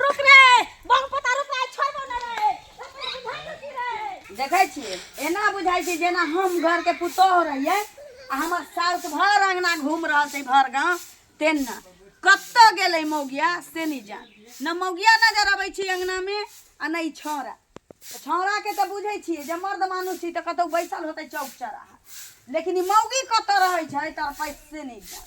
रुक रे बम पता रुक रे छोड़बो ना रे देखै छी एना बुझाइ छै जेना हम घरके पुतोह रहियै आ हमर साउस भर अङ्गना घूम रहल छै भर गाँव तेना कतऽ गेलै मौगिया से नहि जान न मौगिया नजर अबै छै अङ्गनामे आ नहि छौड़ा तऽ छौड़ाके तऽ बुझै छियै जे मर्द मानुस छी तऽ कतहु बैसल होतै चौक चौराहा लेकिन ई मौगी कतऽ रहै छै तड़पैत से नहि जान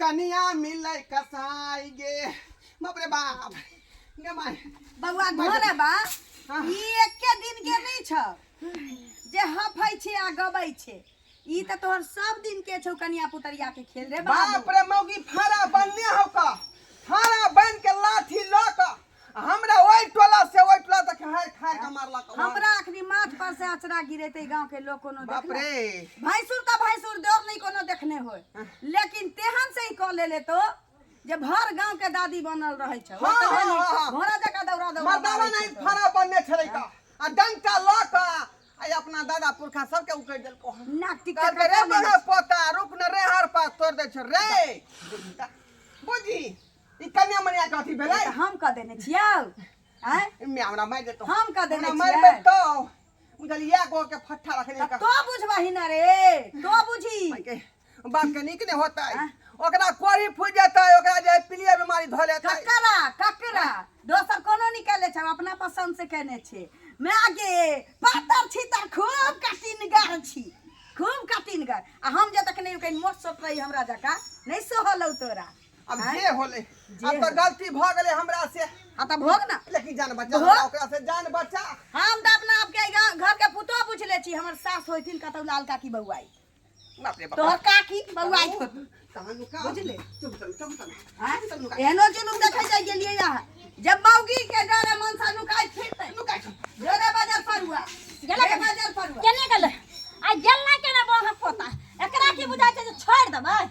कनिया मिले कसाई गे बाप रे बाप गे माय बौआ घरे बा हाँ। ई एके दिन के नहीं छ जे हफै छे आ गबै छे ई त तोहर सब दिन के छौ कनिया पुतरिया के खेल रे बाप बाबू रे मौगी फारा बनने हो का फारा बन के लाठी ल का हमरा ओहि टोला से ओहि टोला तक हार खार के मारलक हन। हमरा अखनी माथ पर से अचरा गिरेते गांव के लोग कोनो बाप देखले रे भैंसुर का भैंसुर दौर नहीं कोनो देखने होय लेकिन तेहन से ही कह ले ले तो जे भर गांव के दादी बनल रहे छै हाँ, हाँ, हाँ, हाँ। घोड़ा जका दौड़ा दौड़ा मर्दावा मारै नहीं छै तो। फरा बनने छले का आ डंटा ल क आ अपना दादा पुरखा सब के उकड़ देलको हन। नाक टिक कहल के रे बड़ा पोता रुक न रे हर पास तोड़ दे छ रे बुझी ई कन्या मनिया के अथी भेलै तऽ हम कऽ देने छियौ आँय इमे हमरा मारि देतो हम कऽ देने हमरा मारि छियै। देतो बुझलियै गो के फट्ठा रखने तऽ का तो बुझबही ने रे तो बुझी के बाप के नीक ने होतै आँय? ओकरा कोरी फूट जेतै ओकरा जे पीलिया बीमारी धऽ लेतै ककरा ककरा दोसर कोनो निकाले छै अपना पसंद से केने छै माय गे पातर छी तऽ खूब कटिनगर छी खूब कटिनगर आ हम जे तक नहि कहीं मोट सोट रही हमरा जकाँ नहि सोहलौ तोरा अब आँय? जे होले जे अब तो होले। गलती भ गेले हमरा से हाँ तो भोग ना लेकिन जान बचा भोग। हमरा ओकरा से जान बचा हम तो अपना आपके ई गाँव- घर के पुतो पूछ ले छी हमर सास होइथिन कतौ लाल काकी बउआई बाप रे बाप तोहर काकी बउआई होइथिन। तहन का बुझले? चुप चल चुप चल हाँ? एहनो जुलूम देखे जाय गेलियै यहाँ जब मौगी के डरे मन से नुकाय फिरतै लुकाइ छौ डरे बजर परुआ गेलै गेलै बजर परुआ केने गेलै आ गेल ना केना बहक पोता एकरा की बुझाइ छै जे छोड़ि देबै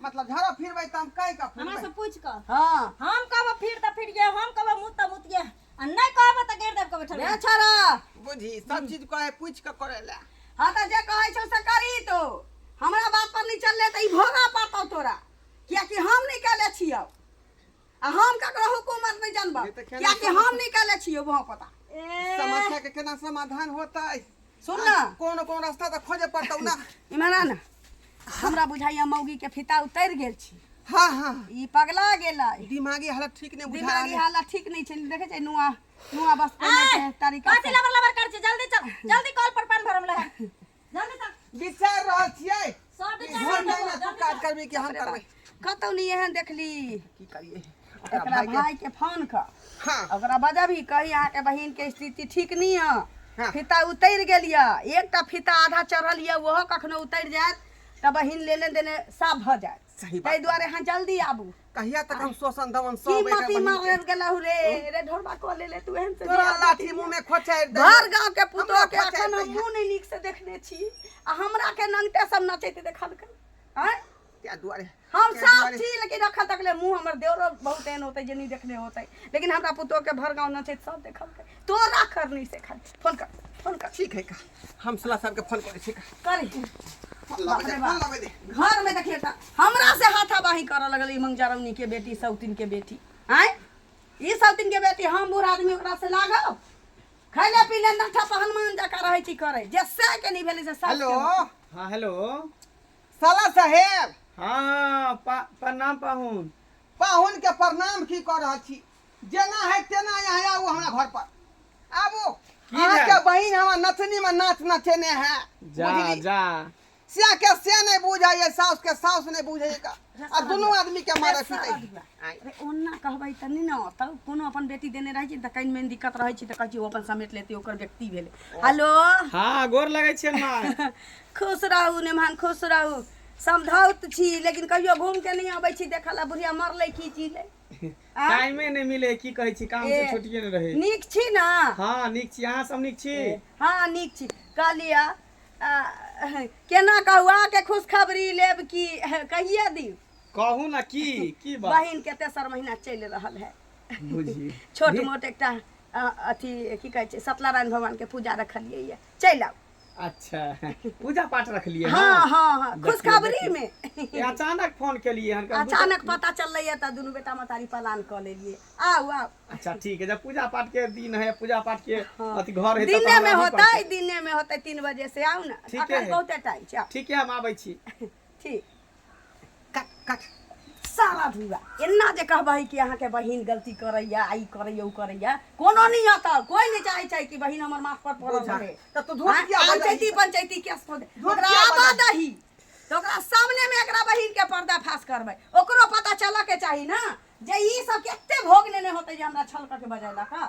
मतलब झड़ब फिरबै तऽ हम कहि कऽ हमरा फिरबै से पूछ कऽ हँ हम कहबो फिर तऽ फिर ये हम कहबो मुत तऽ मुत ये आ नहि कहबो तऽ गाड़ि देब के बैठल बे रही। छोड़ा बुझी सब चीज कहे पूछ के करे ले हाँ तऽ जे कहै छौ से करी तो हमरा बात पर निचल ले तऽ ई भोगा पड़तौ तोरा कियाकि हम निकले छियौ आ हम ककरो हुकूमत नहि जानबह ये तऽ केना कियाकि समझ- हम निकाले छियै वहाँ पता समस्या के केना समाधान होतै सुन ने कोन कोन रास्ता तऽ खोजे पड़तौ ना इमरान हमरा बुझाइया मौगी के फिता उतरि गेल छी हाँ हाँ ई पगला गेलै दिमागी हालत ठीक नहि बुझा दिमागी रहल है। हालत ठीक नहीं छै देखे छै नुआ नुआ बस पहने के तरीका कथी से। लबर लबर कर छी जल्दी चल जल्दी कॉल पर पान भरम लगा विचार रहल छियै सब ई घर में ना तू काज करबी कि हम करबै कतौ नहीं एहन देखली की करिए ओकरा एकरा भाई के भाई के फोन कर हां ओकरा बजबी कही अहाँ के बहिन के स्थिति ठीक नहीं है हाँ। फीता उतर गेल ये एकटा फीता आधा चढ़ल ये ओहो कखनो उतर जायत तऽ बहिन लेने देने साफ भऽ जायत सही ताहि बात दुआरे अहाँ जल्दी आबू कहिया तक हम शोषण दमन की सब माटी एकरा मार बहिन के- गेलहु रे रे ढोरबा कऽ ले ले तू एहन से तोरा बियाह लाठी मुंह में खोचाइ दे भर गांव के पुतोह हमरा के पचास अखन हम पैसा। मुंह नहीं नीक से देखने छी आ हमरा के नंगटे सब नचैत देखलकै हैं त्या दुआरे हम त्या साफ दुआरे- छी लेकिन अखन तक ले मुंह हमर देवरो बहुत एहन होतै जे नहीं देखने होतै लेकिन हमरा पुतोह के भर गांव नचैत सब देखलकै तोरा करनी से खाली फोन कर फोन कर ठीक है का हम सला सर के फोन करे छी करी बाप रे बाप। घर में देखिए त हमरा से हाथाबाही करऽ लगल ई मंगजारमनी के बेटी सौतिन के बेटी आय ई सौतिन के बेटी हम बूढ़ आदमी ओकरा से लागब खैले पीले नठा पहन मान जका रहै छी करे जे से के नहीं भेलै से सब हेलो हाँ हेलो साला साहेब हाँ पा, प्रणाम पाहुन पाहुन के प्रणाम की कर रहल छी जेना है तेना यहाँ आउ हमरा घर पर आबू अहाँ के बहिन हमरा नथनी में नाच नचेने है जा जा से के से नहीं बुझे ये साउस के साउस नहीं बुझे का आ दोनों आदमी के मारे पीटे अरे ओना कहबै त नै न त कोनो अपन बेटी देने रहै छै त कहीं में दिक्कत रहै छै त कहै छै ओ अपन समेट लेते ओकर व्यक्ति भेले हेलो हां गोर लगै छै ना खुश रहू नेमान खुश रहू समझौत छी लेकिन कहियो घूम के नहीं आबै छी देखला बुढ़िया मरले की चीज आँय? टाइमे नहि मिले की कहै छी काम से ए, छुट्टिए नहि रहै नीक छी ने हँ नीक छी अहाँ सब नीक छी हँ नीक छी कहलिय केना कहू अहाँके खुशखबरी लेब कि कहिए दी कहू ने की की बात बहिन के तेसर महीना चलि रहल है बुझी छोट मोट एकटा अ, अथी की कहै छै सत्यनारायण भगवान के पूजा रखलियै ये चलि आउ अच्छा पूजा पाठ रखलियै हँ हँ हँ हँ देखियौ, खुशखबरीमे ए, अचानक फोन केलियै हन कब- अचानक पता चललैए तऽ दुनू बेटा मतारी पलान कऽ लेलियै आउ आउ अच्छा ठीक है जब पूजा पाठ के दिन है पूजा पाठ के अथी घर है तब दिने हमरा में आबऽ होतै पड़तै। दिने में होतै तीन बजे से आउ ने ठीके अखन है। बहुते टाइम छै आउ। ठीक है हम आबै छी छी कट कट सारा धुआ एना जे कहबै कि अहाँके बहिन गलती करैए आ ई करैए ओ करैए कोनो नहि आता कोई नहि चाहै छै कि बहिन हमर माथ पर पड़ल बुझा। रहे तऽ तू धोस किया बजाइ पंचायती छी? पंचायती केस पर धोस ओकरा किया आबा बजाइ छी? दही तऽ ओकरा सामने मे एकरा बहिन के पर्दाफाश करबै ओकरो पता चलऽ के चाही ना जे ई सब केते भोग नेने होतै जे हमरा छल करके बजैलक हँ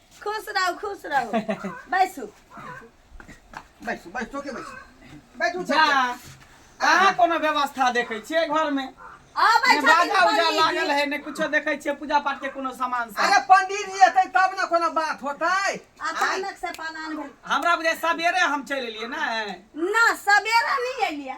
खुश रहू खुश रहू बैसू बैसू बैस चौके बैसू बैठू जा अहाँ कोनो व्यवस्था देखै छियै घरमे आबै ने छथिन बाजा उजा पंडित लागल जी। है ने कुछो देखै छियै पूजा पाठ के कोनो सामान सब अरे पंडित जी एतै तब ने कोनो बात होतै अचानक से पलान भेल हमरा बुझाय सबेरे हम चलि एलियै ने ना सवेरे नहीं एलिया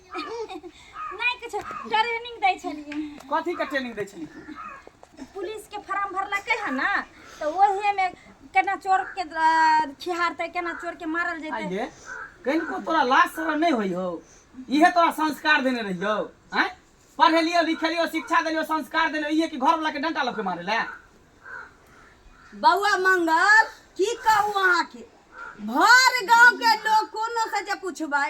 नहि किछु ट्रेनिंग दै छलियै कथी के ट्रेनिंग दै छली पुलिस के फॉर्म भरलकै है ना तो वही में केना चोर के अ, खिहारते केना चोर के मारल जेते आइए कनिको तोरा लाज शरम नहीं होई हो इहे तोरा संस्कार देने रहियो हैं पढ़े लियो लिखे लियो शिक्षा देलियो संस्कार देने इहे कि घर वाला के डंटा लके मारे ले बौआ मंगल की कहू अहाँके भर गांव के लोग कोनो से जे पूछबै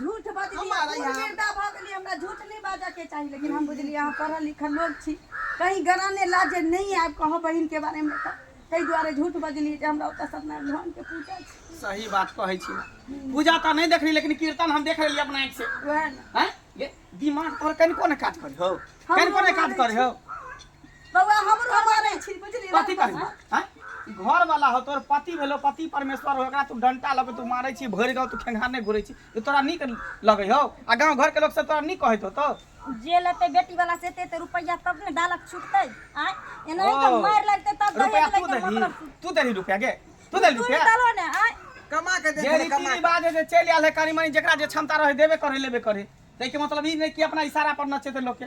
झूठ बजली हमारा यहाँ- गिरदा भऽ गेली हमरा झूठ नहि बाजऽ के चाही लेकिन हम बुझली अहाँ पढ़ल लिखल लोग छी कहीं गराने लाजे नहि आयब कहब बहिन के बारे में तऽ ताहि दुआरे झूठ बजली जे हमरा ओतऽ सत्यनारायण भगवान के पूजा छै सही बात कहै छी पूजा तऽ नहि देखली लेकिन कीर्तन हम देख लेलियै अपना आँखि से वएह ने हैं? ये दिमाग तोहर कनिको ने काज करी हो हमरो कनिको ने काज मानै करी छी। हो बौआ हमरो हम मारै छी बुझली कथी करबी हैं? ई घर वाला हो तोर पति भेलो पति परमेश्वर हो एकरा तू डंटा लगे तू मारे छी भरि गाँव तू खेंघाने घुरे छी ई तोरा नीक लगे हो आ गाँव घर के लोग सब तोरा नीक कहैत हो तो जे लेते बेटी वाला से एते एते रुपया तब ने डालक छुटते आय एना ही तो ओ, मार लगते तब रुपया दहेज तू लेके देली मतलब तू देली रुपया गे तू देली तू रुपया नहीं डालो ने आय कमा के दे जे दे, रीति कमा के। रिवाज है जे चलि आयल है कनी मनी जेकरा जे क्षमता रहे देबे करे लेबे करे ताहि के मतलब ई नहीं कि अपना इशारा पर नचे थे लोग के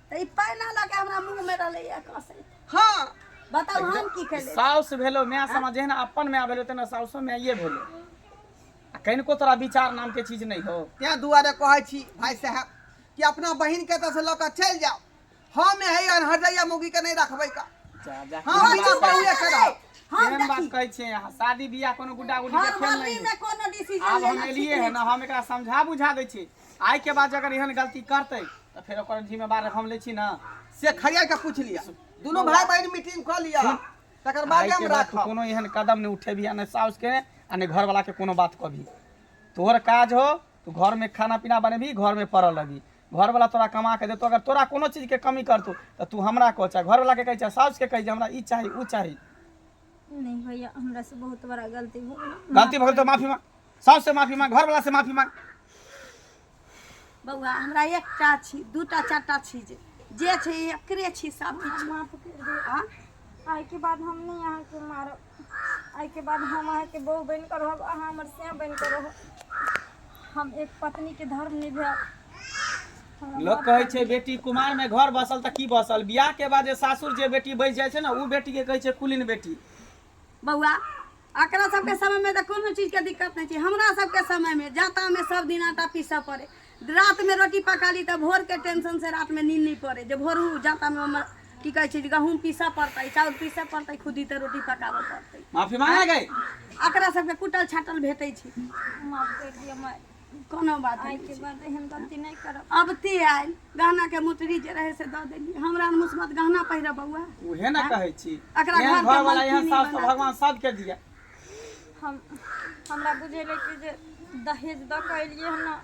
तऽ ई पानि ना लऽ के हमरा मुँह में रहलै या कसैत हाँ बताउ हम की करियै साउस भेलो माय समा जेहन अपन माय भेलो तेना साउसो माये भेलो आ कनिको तोरा विचार नाम के चीज नहीं हो तें दुआरे कहै छी भाई साहब कि अपना बहिन के एतऽ से लऽ कऽ चलि जाओ हम है अनहरदैया मौगी के नहीं रखबै का जा जा हाँ केहन बात- चुप रहियै से रहब। हम केहन बात देखी कहै छियै अहाँ शादी बियाह कोनो गुड्डा गुड्डी के हम खेल मम्मी नहीं में कोनो डिसीजन आब हम लेना एलिए ठीक है ना हम एकरा समझा बुझा दै छी आइ के बाद अगर एहन गलती करते तो फिर ओकर जिम्मेवार हम ले छी ना से खैया के पूछ लिया दोनों भाई बहन मीटिंग कर लिया तकर बाद आइ के हम बाद तू राखब कोनो एहन कदम नहीं उठेबी आ ने साउस के आ ने घर वाला के कोनो बात कभी तोहर काज हो तू घर में खाना पीना बनेबी घर में पड़ल लगी घर वाला तोरा कमा के देतो अगर तोरा कोनो चीज के कमी करतो तो तू हमरा कह चाहे घर वाला के कह चाहे साउस के कह जे हमरा ई चाही ऊ चाही नहीं भैया हमरा से बहुत बड़ा गलती हो गई गलती भगल तो माफी मांग सास से माफी मांग घर वाला से माफी मांग बौआ हमरा एकटा छी दूटा चारटा छी जे जे छै एकरे छी सब किछु माफ कर दे हाँ? आइ के बाद हम नहि अहाँके मारब आइ के बाद हम अहाँके बहू बनि कऽ रहब अहाँ हमर से बनि कऽ रहब हम एक पत्नी के धर्म निभायब हमरा लोग माफ कहै कर छै बेटी कुमार में घर बसल त की बसल बियाह के बाद जे सासुर जे बेटी बैस जाइ छै ना उ बेटी के कहै छै कुलीन बेटी बौआ एकरा सबके समयमे तऽ कोनो चीजके दिक्कत नहि छै हमरा सबके समयमे जातामे सब दिन आटा पीसऽ पड़े रातमे रोटी पका ली तऽ भोरके टेंशन से रातमे नींद नहि पड़े जे भोर उ जातामे हमर की कहै छै जे गहूँम पीसऽ पड़तै चाउर पीसऽ पड़तै खुदी तऽ रोटी पकाबऽ पड़तै माफी मांगे गए एकरा सबके कुटल छाटल भेटै छै माफ कर दिया माय कोनो बात आइ के बाद एहन गलती नहि करब अब ते आयल गहना के मुटरी जे रहे से दऽ देली हमरा ने मुसबत गहना पहिरऽ बौआ उहे ना कहै छी एकरा एहन घर के घर वाला एहन मलकिनी सास तो बना। भगवान सबके दिया हम हमरा बुझेले कि जे दहेज दऽ कऽ एलियै हम ना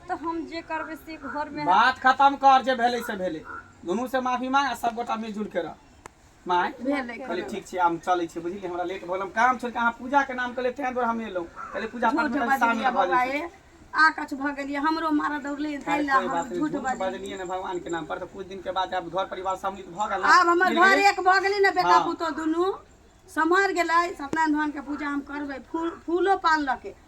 तऽ हम जे करबै से घरमे बात खत्म कर जे भेलै से भेलै दुनू से माफी मांग आ सब गोटा मिलजुल के रह माय भेल अइ कहले खाना। ठीक छै हम चलै छी बुझलियै हमरा लेट भऽ गेल हम काम छोड़ के अहाँ पूजा के नाम कहले तें दुआरे हम एलहुं कहले पूजा पाठ झूठ में कनी शामिल बजलियै भऽ बौआ जैती ए आ कछ भऽ गेलियै हमरो मारऽ दौड़लै ताहि खैर लए कोई हम बात नहि झूठ झूठ बजलियै बजलियै ने भगवान के नाम पर तऽ कुछ दिन के बाद आब घर परिवार सम्मिलित भऽ गेल ने, आब हमर मिल घर गेलै। एक भऽ गेलै ने बेटा हाँ। पुतोह दुनू सम्हर गेलै सत्यनारायण भगवान के पूजा हम करबै फूल फूलो पान लऽ के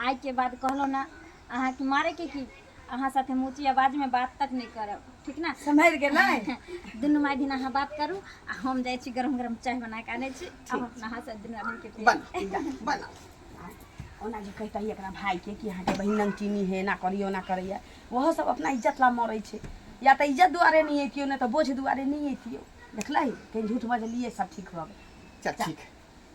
आइके बाद कहलहुँ ने अहाँके मारैके की अहाँ साथे हम ऊँची आवाजमे बात तक नहि करब ठीक ने सम्हरि गेलै दुनू माय दिन अहाँ बात करू आ हम जाइ छी गरम गरम चाय बना कऽ आनै छी आ हम अपना हाथसँ दुनू आदमीके पियै। बना जा, बना ओना जे कहितै एकरा भायके कि अहाँके बहिन नमकीनी हे एना करैए ओना करैए ओहो सब अपना इज्जत ला मरै छै या तऽ इज्जत दुआरे नहि अइतियो नहि तऽ बोझ दुआरे नहि अइतियो देखलही कहीं झूठ बजलियै सब ठीक भऽ गेल चल ठीक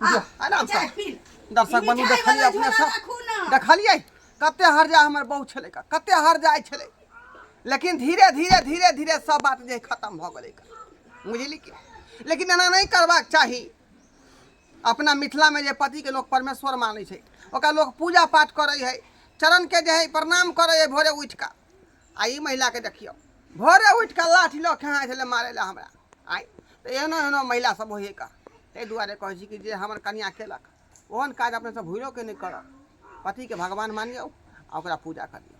आराम से दर्शक बंधु देखलिए अपने सब देखलिए कते हर जा हमर बहुत छले का कते हर जाय छले लेकिन धीरे धीरे धीरे धीरे सब बात जे खत्म भ गेले का बुझली कि लेकिन एना नहीं करबाक चाही अपना मिथिला में जे पति के लोग परमेश्वर माने छै ओकरा लोग पूजा पाठ करे है चरण के जे है प्रणाम करे है भोरे उठ का आ ई महिलाके देखियौ भोरे उठि कऽ लाठी लऽ खेहाँ छलै मारै लए हमरा आइ तऽ एहनो एहनो महिला सब होइए का ताहि दुआरे कहै छी कि जे हमर कनिया केलक ओहन काज अपने सब भूलो के नहि करब पतिके भगवान मानियौ आ ओकरा पूजा करियौ